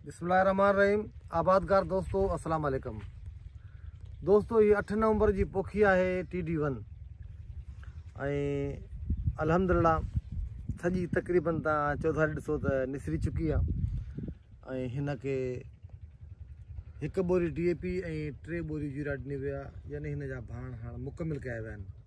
بسم الله الرحمن الرحيم آبادگار دوستو السلام عليڪم دوستو هي اٺ نومبر جي پوکي آهي ٽي ڊي ون الحمد لله سڄي تقريبن تان چوڌاري ڏسو ته نسري چڪي آهي ۽ هن کي هڪ ٻوري ڊي اي پي ۽ ٽي ٻوري جيرا ڏني ويا يعنی هن جا ڀاڻ هاڻ مڪمل ڪيا ويا آهن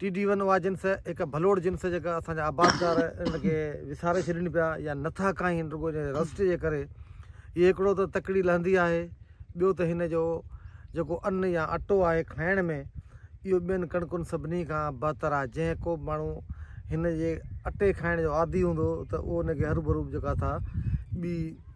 ٽي ڊي ون اها جنس هڪ ڀلوڙ جنس جيڪا اسان جا آبادگار ان کي وساري ڇڏين پيا يا نٿا کائين رڳو جي رسٽ جي ڪري هي هڪڙو ته تڪڙي لهندي آهي ٻيو ته هن جو جيڪو ان يا اٽو آهي کائڻ ۾ اهو ٻين ڪڻڪن سڀني کان بهتر آهي جنهن ڪو به ماڻهو هن جي اٽي کائڻ جو عادي هوندو ته اهو ان کي هروڀرو جيڪا ٿا ٻي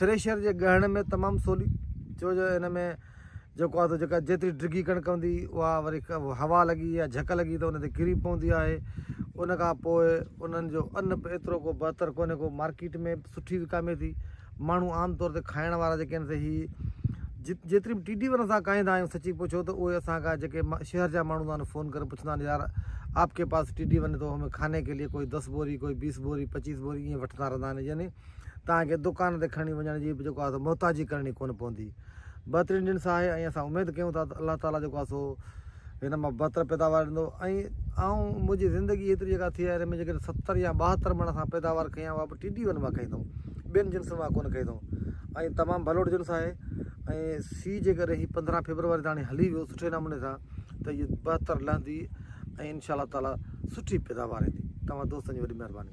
ٿريشر جي ڳهڻ ۾ تمام سولي ڇو جو ان ۾ جيڪو آهي جيڪا جيتري ڊگهي ڪڻڪ هوندي اها وري هوا لڳي يا جهڪ لڳي ته ان تي ڪري پوندي آهي ان کان پوء انهن جو ان به ايترو ڪو بهتر ڪونهي ڪو مارڪيٽ ۾ سٺي وڪامي ٿي ماڻهو عام طور تي کائڻ وارا جيڪي آهن سي هي جيتري به ٽي ڊي ون اسان کائيندا آهيون سچي پڇو ته اهي اسان کان جيڪي شهر جا ماڻهو آهن فون ڪري پڇندا آهن يار آپ ڪي پاس ٽي ڊي ون تو همي کاني ڪي لئي ڪوئي دس بوري ڪوئي بيس بوري پچيس بوري ائين وٺندا رهندا آهن يعني توهان کي دڪان تي کڻي وڃڻ جي به جيڪو آهي سو محتاجي ڪرڻي ڪونه پوندي. بهترين جنس آهي ۽ اسان اميد ڪيون ٿا ته الله تعاليٰ جيڪو آهي سو هن مان بهتر پيداوار ڏيندو ۽ آئون منهنجي زندگي هيتري جيڪا ٿي آهي ان ۾ جيڪڏهن ستر يا ٻاهتر مڻ اسان پيداوار کئي آهي اها به ٽي ڊي ون مان کئي اٿئون ٻين جنسن مان ڪونه کئي اٿئون ۽ تمام ڀلوڙ جنس آهي ۽ سي جيڪڏهن هي پندرهن فيبروري تاڻي هلي ويو سٺي نموني سان ته هي بهتر لهندي ۽ انشاء الله تعاليٰ سٺي پيداوار ايندي تمام دوستن جي وڏي مهرباني